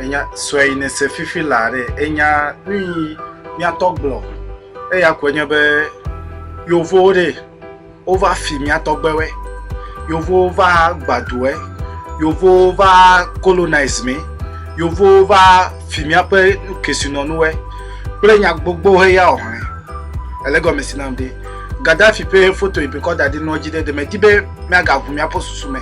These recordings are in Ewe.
Enya sue yi ne se fifi la ɖe enya nuyi mia tɔ gblɔ eya koe nye be yovowo ɖe. Wova fi mía tɔgbewe. Yovowo va gba doe. Yovowo va colonize mi. Yovowo va fi míaƒe kesinɔnuwe kple nya gbogbo he ya ohe. Ele gɔme si nam ɖi. Gaddafi ƒe foto yi bikɔ da ɖi nua dzi ɖe ɖe me di be mía ga ʋu míaƒe susu me.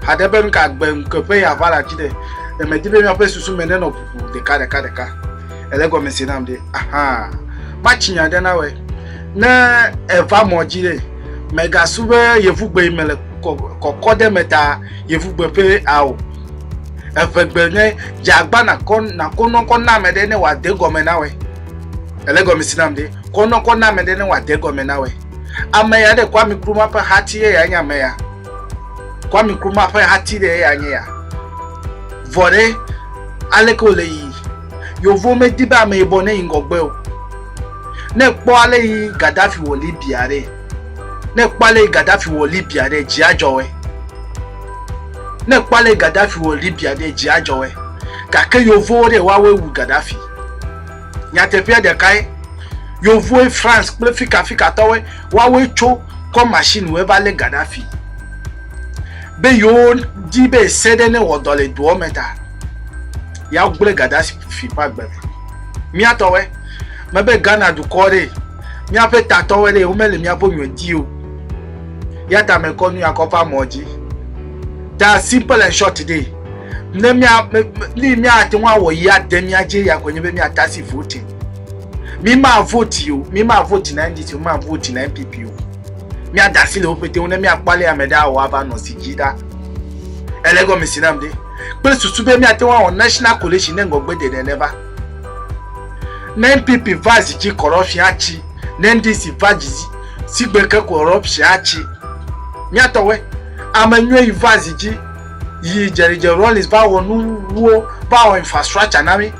Haɖe be nuka gbe ŋuke ƒe ya va la dzi ɖe ɖe me di be míaƒe susu me ne nɔ ʋuʋu ɖeka ɖeka ɖeka. ele gɔme se nam ɖe ahan matsi nya ɖe na wɛ ne eva mɔ dzi ɖe mɛgasu be yevugbe yi me le kɔkɔ ɖe me ta yevugbe ƒe ao evegbe ne dzagba nakɔ nakɔ nɔkɔ na ame ɖe ne wòa de gɔme na wɛ ele gɔme se nam ɖe kɔ nɔkɔ na ame ɖe ne wòa de gɔme na wɛ ame ya ɖe kɔ ami kuru ma ƒe hati ye ya nye ame ya kɔ ami kuru ma ƒe hati ɖe ye ya nye ya vɔ ɖe aleke wòle yi. Yovo medi be ameyibɔ neyi ŋgɔgbe o. Ne èkpɔ ale yi Gaddafi wɔ Libya ɖe, ne èkpɔ ale yi Gaddafi wɔ Libya ɖe, dzi adzɔ wòe. Ne èkpɔ ale yi Gaddafi wɔ Libya ɖe, dzi adzɔ wòe. Gake Yovowo ɖe, woawoe wu Gaddafi. Nyateƒea ɖekae, Yovoe, France kple fikafikatɔwoe, woawoe tso kɔ machine woe va lé Gaddafi be yewo di be ese ɖe newɔ dɔ le doɔ me ta. ya gblẽ Gaddafi ƒe agbe me. Mía tɔwɔe, mebe Ghana dukɔ ɖe, míaƒe tatɔwɔe ɖe, womele míaƒe nyɔe di o. Ya ta mekɔ nu ya kɔ ƒe amɔ dzi. Ta simple and short ɖe, ne mía, ni míate ŋu awɔ yi ade mía dzi ya koe nye be míatasi voting. Mi ma voti o, mi ma voti na NDC o, mi ma voti na NPP o. Míada asi le woƒete ŋu ne míakpɔ ale ame ɖe awɔ ava nɔ zi dzi ɖa. Ele gɔme si nam ɖe. kple susu be míate ŋu awɔ National Coalition ne ŋgɔgbedede ɖe va. Ne NPP va zi dzi corruption atsi, ne NDC va dzi zi sigbe ke corruption atsi. Míatɔwɔe, ame nyuie yi va zi dzi yi Jerry Jerry Rawlings va wɔ nuwo, va wɔ infrastructure na mí.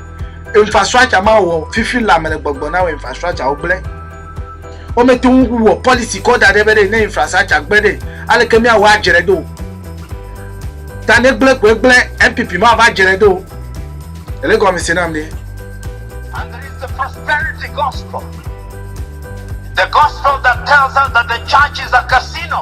Infrastructure ma wɔ fifi la me le gbɔgbɔ na wɔ infrastructure wo gblẽ. Womete ŋu wɔ pɔlisi kɔ da ɖɛ be ɖe ne infrastructure gblẽ ɖe, aleke míawɔ adzrae do o. Ta ne gblẽ koe gblẽ, NPP mava adzrae do o. Èle gɔmese nam ɖe? And there is the prosperity gospel, the gospel that tells us that the church is a casino.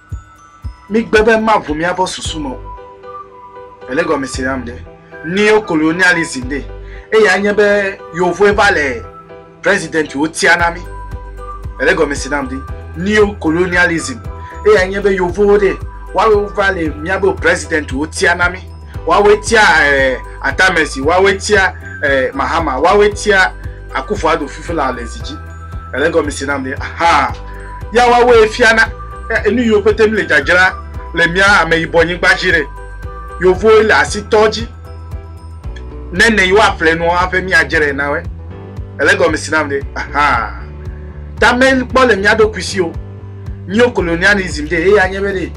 Mi gbe be ma vo mia bɔ susu me o. Ele gɔme se nam ɖe. Neo colonialism ɖe. Eya nye be yovoe va le president wo tia na mi. Ele gɔme se nam ɖe. Neo colonialism. Eya nye be yovoe ɖe. Wawe va le mia be president wo tia na mi. Wawe tia eh, atamesi, wawe tia eh, mahama, wawe tia akufo ado fifi la le zi dzi. Ele gɔmisi nam ni. Aha. Ya wawe fiana enu yo pete mi le jajra le mia ame yibɔ nyigba ji re. Yovo le asi tɔ ji. Nene yo aple no ape mi ajere na we. Ele gɔmisi nam ni. Aha. Ta me kpɔ le mia do kuisi o. Mio kolonializm de eya nye be de.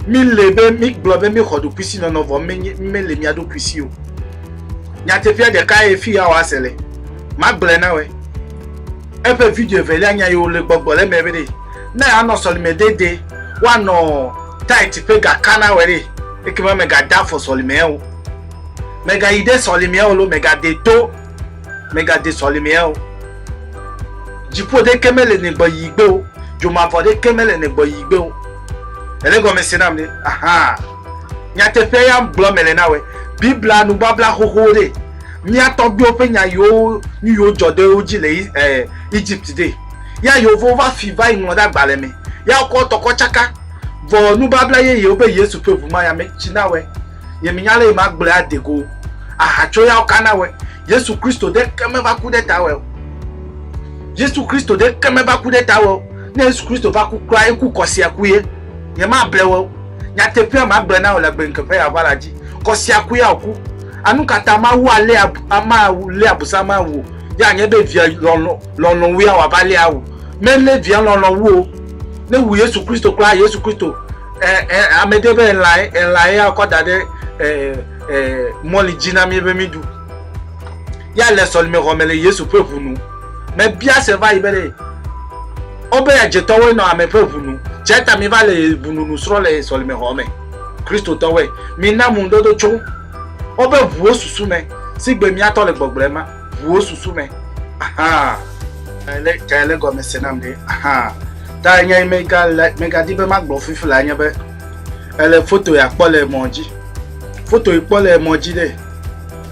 Mi le be mi gblɔ be mi xɔ do kuisi nɔnɔ vɔ me nye me le mia do kuisi o. Nyatefia de ka e fi ya wa se le. Ma gblɔ na we. Eƒe video evelia nya yi wòle gbɔgbɔ ɖe eme be ɖe ne yeanɔ sɔlime dedie, woanɔ tight ƒe gaka na wòe ɖe, ekema mègade afɔ sɔlimea o. Mègayi ɖe sɔlimea o loo mègade to mègade sɔlimea o. Dziƒo ɖeke mele ne gbɔ yi gbe o, dzomavɔ ɖeke mele ne gbɔ yi gbe o. Èɖe gɔme se nam ɖe? Ahaa. Nyateƒea ya gblɔm mele na wòe. Biblia nubabla xoxowo ɖe. mía tɔgbuiwo ƒe nya yiwo nu yiwo dzɔ ɖe wo dzi le eh, Egypt ɖe. Ya yewovo va fi va yi ŋlɔ ɖe agbalẽ me. Ya wokɔ tɔkɔ tsaka. Vɔ nubabla yeyewo be Yesu ƒe ʋu ma ya me tsi na wɔe. Ye menya ale yi ma gblɔe ade go o. Aha tso yawo ka na wɔe. Yesu Kristo ɖeke me va ku ɖe ta wɔe o. Yesu Kristo ɖeke me va ku ɖe ta wɔe o. Ne Yesu Kristo va ku kura, eku kɔsia ku ye. Ye ma ble wɔe o. Nyateƒea ma gblɔe na wò le agbenkekea ƒe aʋala dzi. Kɔsia ku ya wòku. Anu ka ta Mawu alé abu, ama awu, lé abusam awu o? Ye anye be via lɔlɔ̃, lɔlɔ̃ wue awɔ ava lé awu. Melé via lɔlɔ̃ wu o. Ne wu Yesu Kristo kura, Yesu Kristo, ɛ, ɛ, ame ɖe be elãe, elãe ya kɔ da ɖe, ɛ, ɛ, mɔli dzi na mí be mí ɖu. ya le sɔlimexɔ me le Yesu ƒe ʋu nu. Mebia se va yi be ɖe Obeya dzetɔwoe nɔ ame ƒe ʋu nu. Tsia ta mi va le ʋu nu nu srɔ̃ le sɔlimexɔ me. Kristotɔwoe. Mi na ŋu dodo tso wobe ʋuwo susu me, si gbe mia tɔ le gbɔgblɔe ma, ʋuwo susu me. Ahaa. Ele, ka ele gɔme se nam ɖe? Ahaa. Ta nya yi mega le, mega di be magblɔ fifi la nye be, ele foto ya kpɔ le emɔ dzi. Foto yi kpɔ le emɔ dzi ɖe,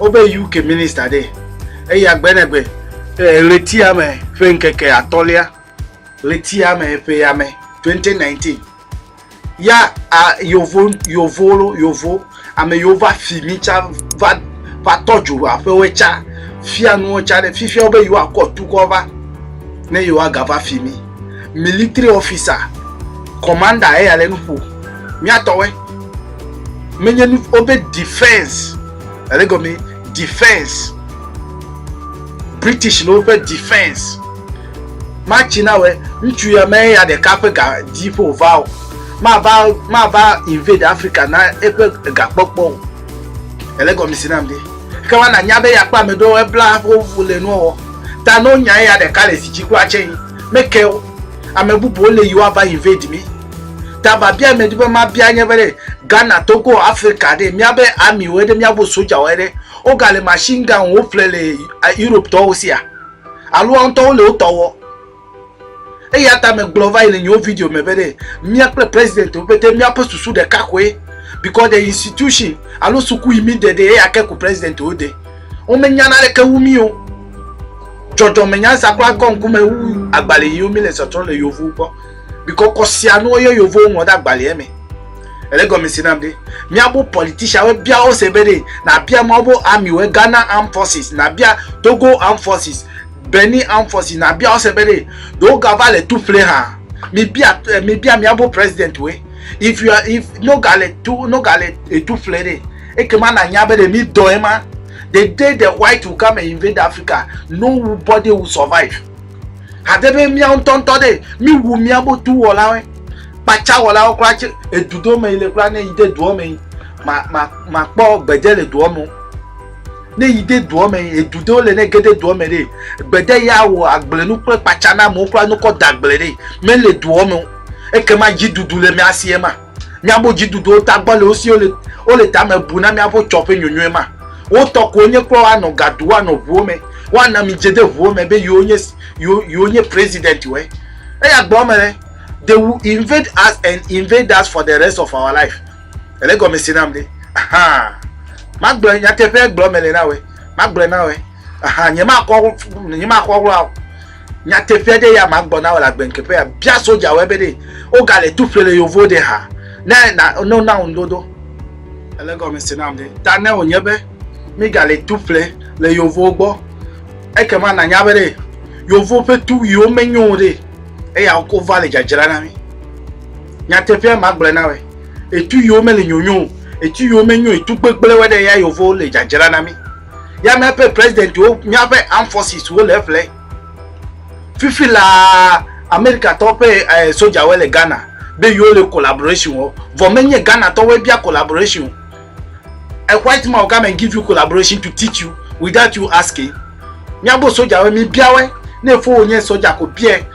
Wobe UK minista ɖee. Eya gbenegbe. Le ɣletiame ƒe ŋkeke atɔ̃lia, ɣletiame ƒe yame, 2019, ya a yovo, yovo lo, yovo, ame yiwo va fi mi tsa va, va tɔ dzo aƒewoe tsa fia nuwo tsa ɖe. Fifia wobe yewoakɔ tukɔ va ne yewoagava fi mi. military officer commander eya le nu ƒo miatɔwɔe menye nu wobe defense ele gɔme defense british le woƒe defense matsi na wɛ ŋutsu ya me ya ɖeka ƒe ga dzi ƒe wòva o mava mava invade africa na eƒe gakpɔkpɔ o ele gɔme si nam de. Ke wa na nya be ya kpɔ ame ɖewo ebla wo wu le nua wɔ ta no nya eya ɖeka le fidji kura tse yi me ke wo ame bubu wo le yi wa va invade mi ta va bia ame ɖi be ma bia nye be ɖe Ghana Togo Africa ɖe mia be army wo ɖe mia bo soja wo ɖe wo ga le machine gun wo ƒle le Europe tɔ wo sia alo wa ŋtɔ wo le wo tɔ wɔ. eya ta megblɔ va yi le nyewo video me be ɖe mía kple president wo pete míaƒe susu ɖeka koe because the institution alo suku yi mi de ɖe eya ke ko president wo de womenya naneke wu mí o dzɔdzɔme nyansa kura kɔ ŋkume wu agbalẽ yiwo mi le sɔtrɔ le yevuwo gbɔ because kɔsia nuwo yɔ yevuwo ŋlɔ ɖe agbalẽa me ele gɔme si nam ɖe míabo politician wo bia wo se be ɖe nabia mawo bo army wo Ghana armed forces nabia Togo armed forces Benny Amfosy nabia ose be ɖe wogava le tu ƒle hã. Mibia eh, mibia miabo president we. If you are if no gale tu no gale tu ƒle ɖe ekema nanya be ɖe mi dɔ ema. The day the white will come and invade Africa, nobody will survive. Hade be miawo ŋutɔ ŋutɔ ɖe mi wu miabo tu wɔlawe. Kpatsa wɔlawo kura tse edudo me yi le kura ne yi de doɔ me yi ma ma ma kpɔ gbedze le doɔ me. ne yi de doa me edu ɖewo le ne ge de doa me ɖe gbede ya wɔ agblenu kple kpatsa na amewo kura nukɔ da agble ɖe mele doa me o ekema dziɖuɖu le mía si ema míaƒe dziɖuɖuwo tagbɔ le wo si wole wole tame bu na míaƒe tsɔ ƒe nyonyo ema wotɔ ko wonye kura woanɔ gadu woanɔ ʋuwo me woana mi dze de ʋuwo me be yewo nye yewo yewo nye president wɔe eya gblɔ me ɖe they will invade us and invade us for the rest of our life ele gɔme se nam ɖe ahan magblɔ nyateƒe gblɔ mele na wɛ magblɔ na wɛ ahan nyemakɔ nyemakɔ wla o nyateƒe ɖe ya magbɔ na wɔ le agbenkeƒe ya bia soja wɛ be ɖe wogale tu ƒle le yovo ɖe ha ne na no na ŋu dodo ele gɔme se nam ɖe ta ne wònye be migale tu ƒle le yovowo gbɔ ekema nanya be ɖe yovo ƒe tuwuiwo menyo o ɖe eya wova le dzadzra na mi Nyateƒea ma gblɔe na wɛ. Etu yiwo mele nyonyo o, etu yiwo menyo etu gbegblẽ wɛ ɖe ya yewovo le dzadzra na mi. Ya miaƒe president wo, miaƒe armed forces wo le eƒle. Fifi laa, America tɔwo ƒe eh, soja wɛ le Ghana be yewo le collaboration wɔ. Vɔ menye Ghana tɔwo wɛ bia collaboration o. A white man will come and give you collaboration to teach you without you asking. Miabo soja wɛ, mi bia wɛ. Ne efo wo nye soja ko biɛ,